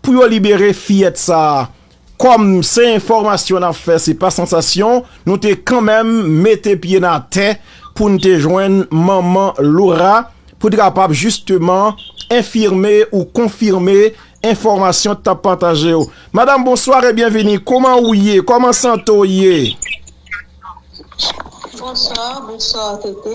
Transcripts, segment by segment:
Pou yo libere fiyèt sa a. Kòm se enfòmasyon n ap fè se pa sansasyon, nou te kanmenm mete pye n atè pou n te jwenn manman Laura pou te kapab jisteman enfime ou konfime enfòmasyon t ap pataje yo. Madam bonswa e byenvini, kouman ou ye, kòman sante w ye? Bonswa, bonswa TT.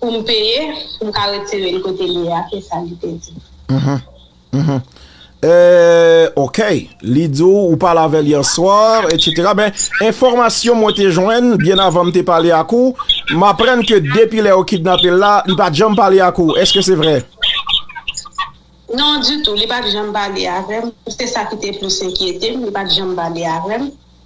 pou m peye pou m ka retire l kote li ye a, se sa li te di. Eeeeh ok, li di w ou pale avè l yè swa etc. Men enfòmasyon mwen te jwenn byen avan m te pale ak ou, m aprann ke depi lè yo kidnape l la, li pa t janm pale ak ou, eske se vre? Non ditou, li pa t janm pale avè m, se sa ki te plis enkyete m, li pa t janm pale avè m.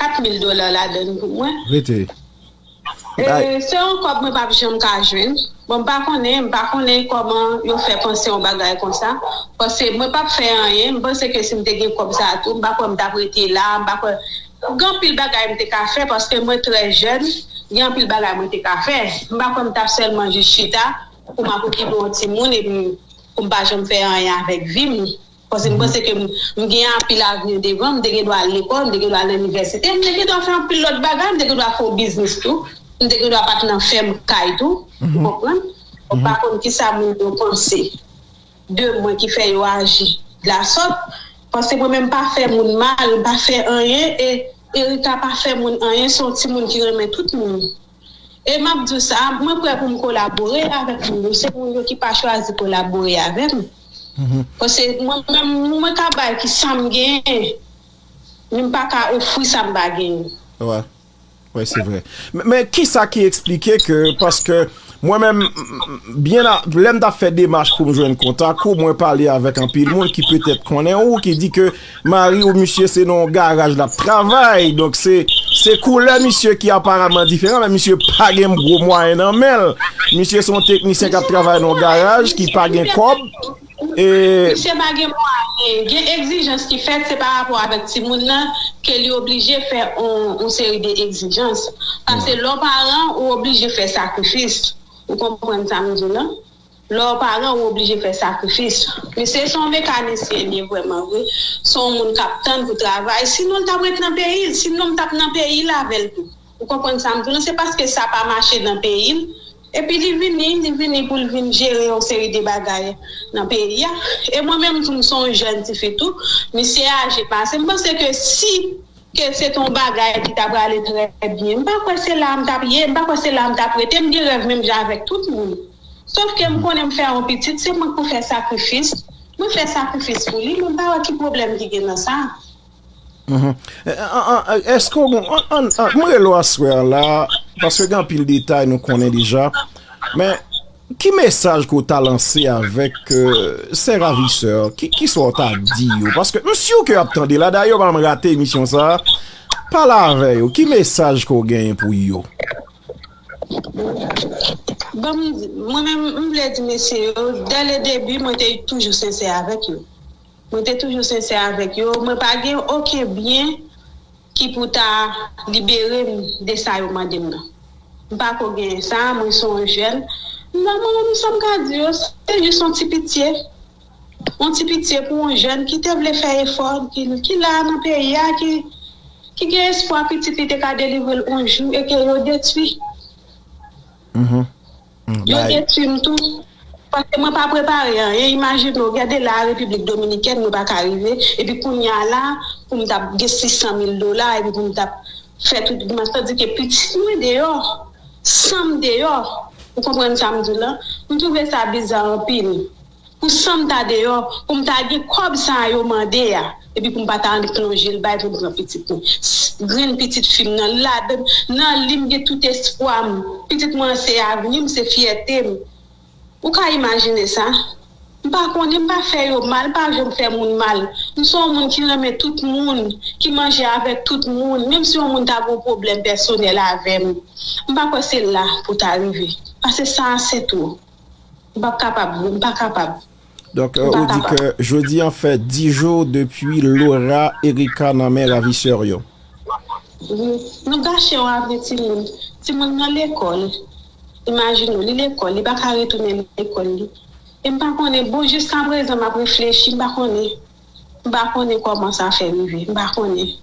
4000 dola ladann pou mwen. Rete. E se yon kob mwen pap janm ka jwenn. Bon m pa konnen, m pa konnen koman yo fè panse yon bagay konsa. Pase mwen pap fè anyen, m panse ke si m te gen kob sa tou, m pa kwè m tap rete la, m pa kwè. Gen anpil bagay m te ka fè paske mwen trè jèn, gen anpil bagay mwen te ka fè. M pa kwè m tap sèlman jis chita pou m ap okipe yon timoun epi pou m pa janm fè anyen avèk vi m. Paske m panse ke m gen anpil avni devan, m te gen dwa al lekòl, m te gen dwa al inivèsite, m te gen dwa fè anpil lòt bagay, m te gen dwa fè yon biznis tou, m te gen dwa pa t nan fèm kay tou, ou konprann? Mwen pa konn kisa moun yo panse de mwen ki fè yo aji de la sòt, paske mwen menm m pa fè moun mal, m pa fè anyen e Erika pa fè moun anyen, se yon timoun ki renmen tout moun. E m ap di w sa, mwen prè pou m kolabore avèk moun yo, se moun yo ki pa chwazi kolabore avè m. Pase mwen menm, mwen ka bay ki sa m genyen, men m pa ka ofri sa m pa genyen. Wè, wè se vre. Men ki sa ki eksplike ke, paske mwen menm, byen a, lè m t ap fè demach pou m jwenn kontak ou, mwen pale avèk anpil moun ki petèt konnen ou, ki di ke, Mari w misye se nan yon garaj lap travay donk se se koulè misye ki aparamman diferan men misye pa gen gwo mwayen nan men l misye se yon teknisyen kap travay nan yon garaj ki pa gen kòb e Misye pa gen mwayen, gen egzijans ki fèt se pa rapò avèk timoun nan ke li oblije fè yon seri de egzijans pase lè w paran ou oblije fè sakrifis ou konprann sa m di w lan Lè w paran ou oblije fè sakrifis. Misye se yon mekanisyen li ye vrèman vre, se yon moun kap tann pou travay, sinon l tap ret nan peyi l, sinon m tap nan peyi l avè l tou. Ou konprann sa m di w lan, se paske sa pa mache nan peyi l, epi li vini, li vini pou l vin jere yon seri de bagay nan peyi a, e mwen menm tou m se yon jèn tifi tou, misye aje pase m, m panse ke si. Ke se te yon bagay ki ta prale trè byen. M pa kwè se la a m t ap ye, m pa kwè se la a m t ap rete. M gen rèv menm jan avèk tout moun. Sof ke m konnen m fè yon pitit, se mwen k pou fè sakrifis. Mwen fè sakrifis pou li, men m pa wè ki pwoblèm ki gen nan sa. Èske ou gen, m rele ou aswè a la, paske gen anpil detay nou konnen deja, men. Ki mesaj ke w ta lanse avèk sè ravisè? Ki sa w ta di yo? Paske m siw ke yo ap tande la, dayè yo pa janm rate emisyon sa, pale avè yo, ki mesaj ke w genyen pou yo? Bon, mwen menm m vle di mesye yo, dè le debi mwen te toujou sensè avèk yo. Mwen te toujou sensè avèk yo, mwen pa gen oken byen. Ki pou ta libere m de sa yo mande m nan. M pa ko genyen sa, mwen se yon jèn. Mwen menm m sa m ka di yo, se jis yon ti pitye. Yon ti pitye pou yon jèn ki te vle fè efò, ki la nan peyi a, ki gen espwa pitit li te ka delivre l yon jou e ke yo detwi. Yo detwi m tou, paske mwen pa prepare anyen, imajine w gade la a Repiblik Dominikèn mwen pa ka rive, epi kounye a la a pou m t ap gen 600 mil dola epi pou m t ap fè tout dmanch, tandi ke pitit mwen deyò, san m deyò, ou konprann sa m di w lan, m twouve sa biza anpil. pou san m ta deyò, pou m ta gen kòb sa a yo mande a, epi pou m pa ta annik plonje l bay pou m pran pitit mwen. Grenn pitit fi m nan, ladan nan li m gen tout espwa m. Pitit mwen an se avni m, se fyète m. Ou ka imajine sa? M pa konnen, m pa fè yo mal, m pa janm fè moun mal. M se yon moun ki renmen tout moun, ki manje avèk tout moun, menm si yon moun ta gen yon pwoblèm pèsonèl avè m. M pa kwè se la pou ta rive, pase sa a se twò. M pap kapab bro, m pa kapab. Donk ou di ke jodi an fè 10 jou depi Laura Erica nan men raviseur yo? Wi, nou gache yon avni timoun, timoun nan lekòl, imajine w li lekòl li pa ka retounen lekòl li e m pa konnen bon jiskaprezan m ap reflechi m pa konnen. M pa konnen kòman sa fè rive, m pa konnen.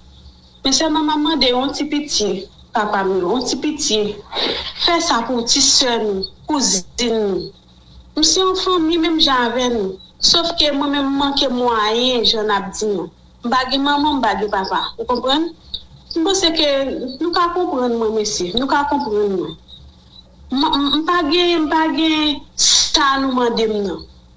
Men sèlman m ap mande yon ti pitye, Papa m yo, yon ti pitye. Fè sa pou ti sè nou, kouzin nou. M se yon fanmi menm jan avè nou, sof ke mwen menm m manke mwayen jan n ap di an. M pa gen manman, m pa gen papa. Ou konprann? M panse ke nou ka konprann mwen mesye, nou ka konprann mwen. M, m pa gen, m pa gen sa nou mande m nan.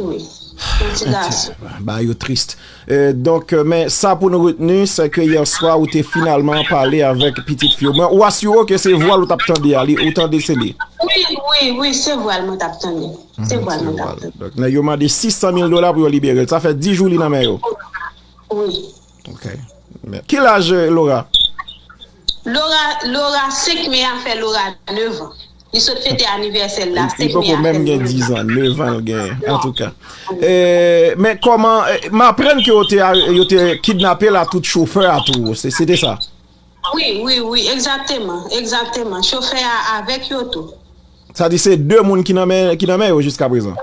wi yon ti gason. Bagay yo trist. Donk men sa pou nou retni se ke yèswa ou te finalman pale avèk pitit fi ou. Men ou asire w ke se vwa l ou t ap tande a, ou tande se li? Wi, wi, wi, se vwa l mwen t ap tande. Se vwa l mwen t ap tande. Donk nèg yo mande 600 mil dola pou yo libere l. Sa fè 10 jou li nan men yo? Wi. Ok men kil aj Laura? Laura Laura 5 me a fè Laura 9 an li sot fete anivèsèl la 5 me a fè 9 an. Li poko menm gen 10 an 9 an l genyen antouka men kòman m aprann ke yo te yo te kidnapel a tout chofè a tou se te sa? Wi wi wi egzakteman egzakteman chofè a avèk yo tou. Sa di se 2 moun ki nan men ki nan men yo jiska prezan.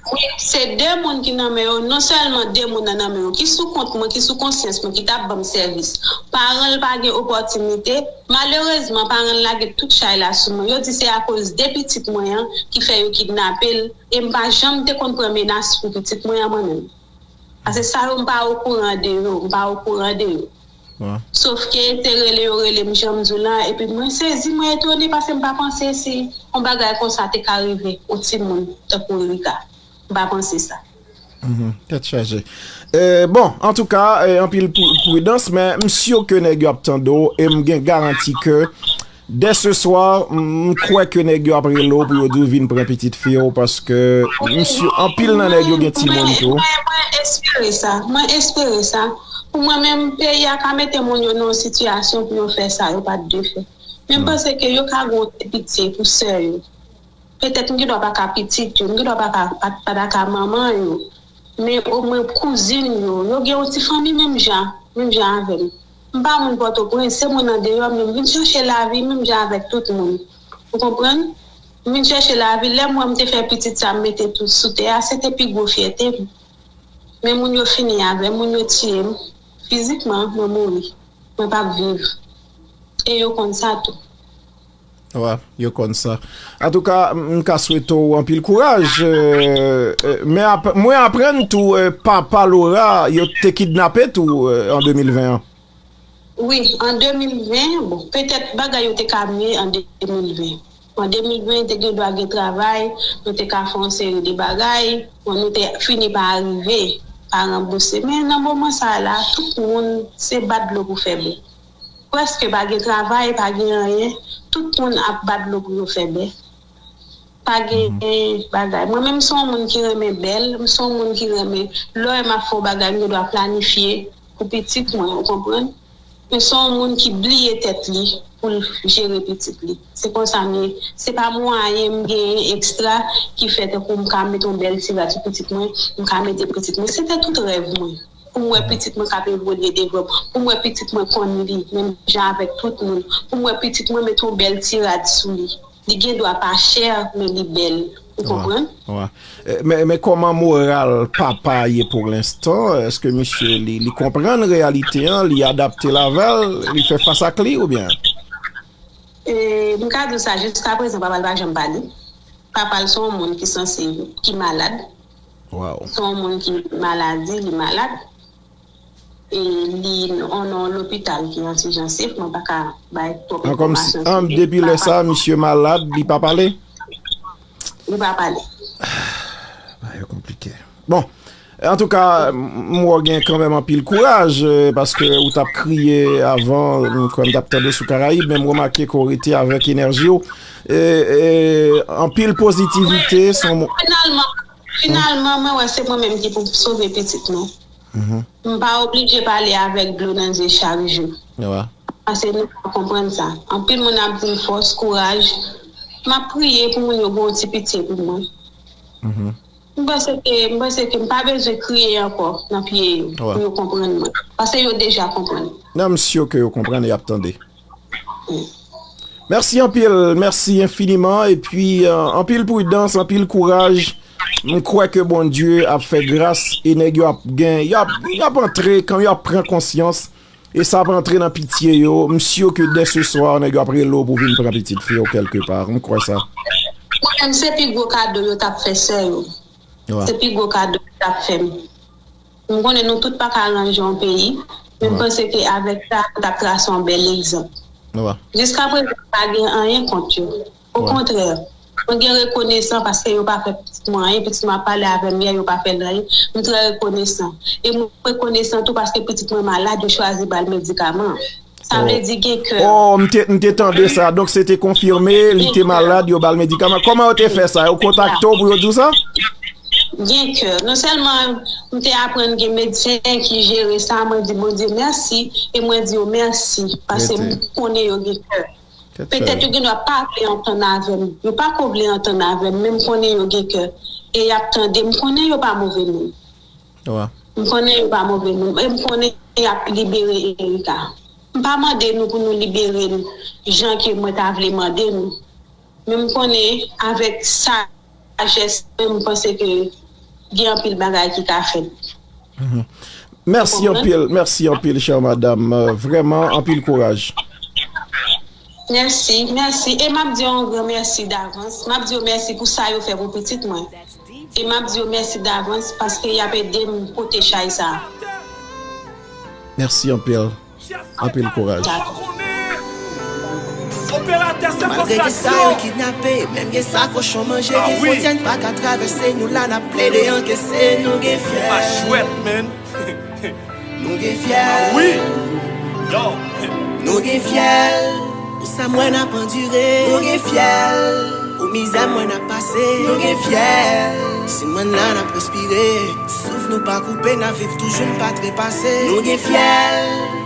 Wi se 2 moun ki nan men yo non sèlman 2 moun nan nan men yo ki sou kont mwen ki sou konsyans mwen ki tap banm sèvis paran l pa gen opòtinite malerezman paran l lage tout chay la sou mwen yo di se akoz de pitit mwen an ki fè yo kidnape l e m pa janm te konn pran menas pou pitit mwen an mwen menm pase sa yo m pa okouran de yo m pa okouran de yo. Sofke se rele yo rele m jan m di w la epi mwen sezi mwen etone pase m pa panse si yon bagay konsa te ka rive yon timoun tankou Erika m pa panse sa. Tèt chaje. Bon antouka anpil pridans men m sur ke nèg yo ap tande w e m gen garanti ke Dès ce soir, m kwè ke nèg yo ap rele w pou yo di w vin pran pitit fi w paske m si anpil nan nèg yo gen timoun tou. Mwen, mwen espere sa. Mwen espere sa. Pou mwen menm, peyi a ka mete moun yo nan yon sitiyasyon pou yo fè sa yo pa t dwe fè. Men m panse ke yo ka gen yon ti pitye pou sè yo. Petèt m gen dwa pa ka pitit yo, m gen dwa pa ka pa ta ka manman yo, men omwen kouzin yo, yo gen yon ti fanmi menm jan, menm jan avè m. M pa moun Pòtoprens, se moun andeyò men m vin chèche lavi menm jan avèk tout moun. Ou konprann? M vin chèche lavi, lè m wè m te fè pitit sa m mete tout sou tè a, se te pi gwo fyète m. Men moun yo fini avè m, moun yo tiye m, fizikman mwen mouri, mwen p ap viv. E yo konn sa tou. Wa, yo konn sa. Antouka, m ka swete w anpil kouraj. Men ap, mwen aprann tou papa Laura yo te kidnape tou an 2020 an. Wi, an 2020, bon, petèt bagay yo te ka mye an 2020. An 2020 te gen dwa gen travay, nou te ka fè yon seri de bagay, bon nou te fini pa arive pa ranbouse. Men nan moman sa a la, tout moun se bat dlo pou fè bè. Prèske pa gen travay, pa gen anyen, tout moun ap ba dlo pou yo fè bè. Pa gen bagay. Mwen menm m son w moun ki renmen bèl, m son w moun ki renmen lò e m ap fè w bagay m gen dwa planifye pou pitit mwen ou konprann. M son w moun ki bliye tèt li pou l jere pitit li. Se konsa m ye. Se pa mwayen m genyen ekstra ki fè tankou m ka met yon bèl ti rad sou pitit mwen, m ka mete pitit mwen. Se te tout rèv mwen. pou m wè pitit mwen k ap evolye devan, pou m wè pitit mwen konn li menm jan avèk tout moun, pou m wè pitit mwen mete yon bèl ti rad sou li. Li gen dwa pa chè, men li bèl. Ou konprann? Wa. Men kòman moral papa a ye pou lenstan? Èske misye li konprann reyalite an, li adapte l avè l, li fè fas ak li oubyen? M ka di w sa, jiskaprezan papa l pa janm pale. Papa l se yon moun ki sanse, ki malad. Waww. Son moun ki maladi li malad e li on non lopital ki an sijansif mwen pa ka bay twop enfòmasyon sou li. An depi lè sa misye malad li pa pale? Li pa pale. Bagay yo konplike. Bon antouka m wè w gen kanmenm anpil kouraj paske ou tap kriye avan m kwè m tap tande w sou karayib men m remake ke w rete avèk enèji w. Anpil pozitivite son. Finalman mwen wè se mwen menm ki pou sove pitit mwen. M pa oblije pale avèk dlo nan zye chak jou. Pase nou pa konprann sa. Anpil moun ap di m fòs, kouraj. M ap priye pou moun yo gen yon ti pitye pou mwen. M panse ke m panse ke m pa bezwen kriye ankò nan pye yo pou yo konprann mwen. Pase yo deja konprann. Nan m si ke yo konprann e y ap tande. Mèsi anpil, mèsi enfiniman, epi anpil pridans, anpil kouraj, m kwè ke Bondye ap fè gras, e nèg yo ap gen, y ap antre, kan yo ap pran konsyans, e sa ap antre nan pitye yo, m sur ke dè se swa, nèg yo ap rele w pou vin pran pitit fi w kèlke pa, m kwè sa. Kwè m se pi gwo kado yo t ap fè sè yo, se pi gwo kado yo t ap fè m. Nou konnen nou tout pa ka ranje yon peyi, men m panse ke avèk sa a nou t ap trase yon bèl egzanp. Jiskaprezan m pa gen anyen kont yo. Okontrè, mwen gen rekonesan paske yo pa fè pitit mwen anyen, pitit mwen ap pale avè m yè, yo pa fè l anyen, m trè rekonesan. E m rekonesan tou paske pitit mwen malad, yo chwazi ba l medikaman. Sa vle di gen kè. Oh m te m te tande sa donk se te konfime li te malad yo bal medikaman kòman yo te fè sa yo kontakte w pou yo di w sa? Gen kè non sèlman m te aprann gen medsen ki jere sa mwen di Bondye mèsi e mwen di yo mèsi pase m konnen yo gen kè petèt yo gen dwa pa vle antann avè m yo pa ko vle antann avè m men m konnen yo gen kè e y ap tande m konnen yo pa move moun Wa. M konnen yo pa move moun e m konnen y ap libere Erika. M pa mande nou pou nou libere l jan ke mwen ta vle mande nou, men m konnen avèk sajès mwen m panse ke gen anpil bagay ki ka fèt. Mèsi anpil, mèsi anpil chère madame, vrèman anpil kouraj. Mèsi, mèsi, e m ap di yo yon gran mèsi davans. M ap di yo mèsi pou sa yo fè pou pitit mwen. E m ap di yo mèsi davans paske y ap ede m pote chay sa a. Mèsi anpil, anpil kouraj. Malgre gen sa yo kidnape, menm gen sa kochon manje Gen fwontyè n pa ka travèse, nou la n ap plede ankese Nou gen fyèl. Nou gen fyèl Wi Yo Nou gen fyèl Pou sa m wè n ap andire Nou gen fyèl Pou mizè m wè n ap pase Nou gen fyèl Si mwen n la n ap respire Souf nou pa koupe n ap viv toujou n pa trepase Nou gen fyèl.